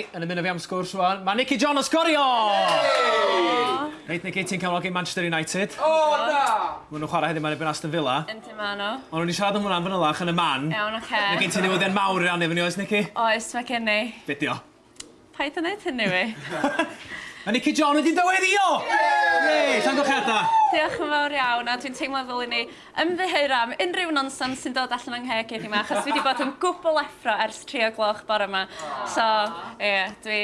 Yn ymuno fi am sgwrs rwan, mae Nicky John yn sgorio! Reit Nicky, ti'n cefnogi Manchester United. O na! Maen nhw'n chwarae heddiw ma erbyn Aston Villa. Yndi maen nhw. Ond o'n i'n siarad am hwnna yn fanylach yn y man. Iawn, oce. Mae gen ti newyddion mawr i rannu efo ni oes Nicky? Oes, mae gen i. Be dio? Paid â neud hynny wi. Mae Nicky John wedi dyweddïo! Yay! Llongyfarchiadau! Diolch yn fawr iawn a dwi'n teimlo fel i ni Ymddiheura am unrhyw nonsens sy'n dod allan fy ngheg heddiw 'ma achos dwi 'di bod yn gwbl effro ers tri o gloch bore 'ma. So, ie, dwi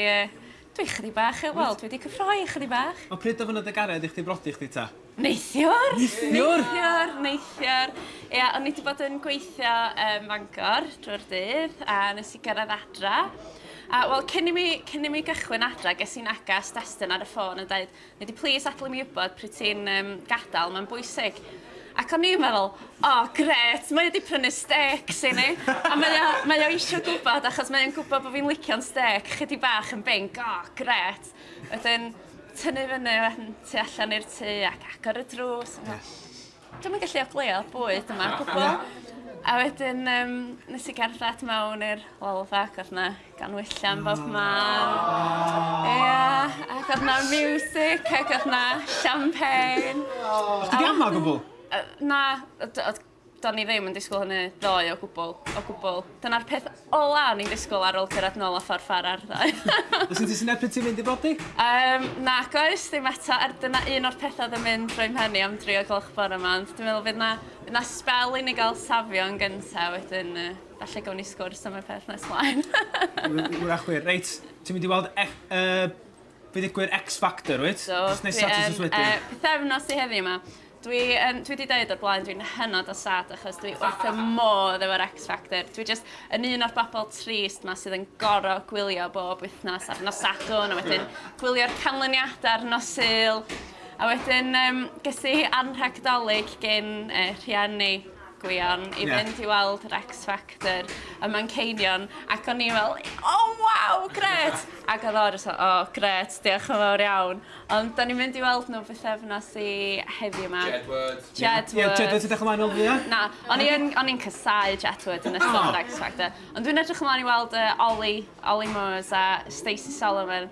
dwi chydig bach yy wel, dwi 'di cyffroi chydig bach. Ond pryd ofynnodd dy gared i chdi brodi chdi 'ta? Neithiwr! Neithiwr? Neithiwr, neithiwr. Ia, o'n i 'di bod yn gweithio ym Mangor drwy'r dydd a nes i gyrraedd adra a wel cyn i mi cyn i mi gychwyn adra ges i'n neges destun ar y ffôn yn deud Ydy, please adlu mi wybod pryd ti'n um, gadael, mae'n bwysig. Ac o'n i'n meddwl, o, oh, gret, mae wedi prynu stecs i ni. A mae o, mae o eisiau gwybod, achos mae'n gwybod bod fi'n licio'n stec, chydi bach yn bing, o, oh, gret. Wedyn, tynnu fyny, wedyn, tu allan i'r tu, ac agor y drws. Yes. Dwi'm yn gallu ogleuo bwyd yma o gwbwl. A wedyn yym nes i gerdded mewn i'r Wylfa ac o'dd 'na ganwyllau'n bob man. Ia ac o'dd 'na miwsic ac o'dd 'na champagne. O' chdi 'di ama' o gwbwl? Yy na yy do- o'dd do'n i ddim yn disgwl hynny ddoe o gwbwl o gwbwl. Dyna'r peth Ola o'n i'n disgwyl ar ôl cyrraedd nôl a ffordd far ar ddoe. Os yn ti sy'n erbyn ti'n mynd i brodi? Um, nac oes, ddim eto, er dyna un o'r pethau oedd yn mynd drwy mhen i am dri o gloch bore yma, ond dwi'n meddwl fydd na, fydd na spel i ni gael safio yn gyntaf wedyn, uh, falle gawn ni sgwrs am y peth nes mlaen. Wrach wir, reit, ti'n mynd i weld e, uh, Be ddigwydd X Factor wyt? So, dwi yn, uh, pethefnos i heddi yma. Dwi, um, dwi wedi dweud o'r blaen, dwi'n hynod o sad achos dwi wrth y modd efo'r X Factor. Dwi just yn un o'r bobl trist ma sydd yn goro gwylio bob wythnos ar nos Sadwn, a wedyn gwylio'r canlyniadau ar nos Sul. A wedyn, um, gysi anrhagdolig gen uh, rhiannu Gwion i fynd i weld yr X Factor ym Manceinion ac o'n i fel o waw grêt ac oedd o jyst fel o grêt diolch yn fawr iawn ond 'dan ni'n mynd i weld nhw bythefnos i heddiw 'ma. Jedward. Jedward. Ie Jedward ti'n edrych ymlaen i weld nhw ie? Na o'n i yn o'n i'n casáu Jedward yn ystod yr X Factor ond dwi'n edrych ymlaen i weld yy Olly Olly Murs a Stacey Solomon.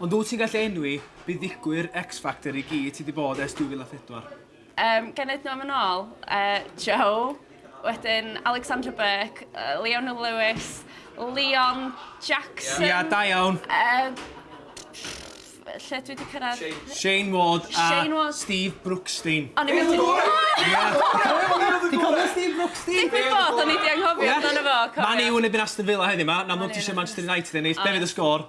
Ond wyt ti'n gallu enwi buddugwyr X-Factor i gyd sy 'di bod ers 2004? Yym, ga i neud nhw am yn ôl? Yy, Joe, wedyn Alexandra Burke, Leona Lewis, Leon Jackson... Ia, da iawn! Yy, lle dwi 'di cyrraedd? Shane Ward a Steve Brookstein. O'n i methu... Ti'n cofio Steve Brookstein? Digwydd bod o'n i 'di anghofio amdano fo, cofiwch. Man U yn erbyn Aston Villa heddiw 'ma, yn amlwg ti isio Manchester United ennill, be fydd y sgôr?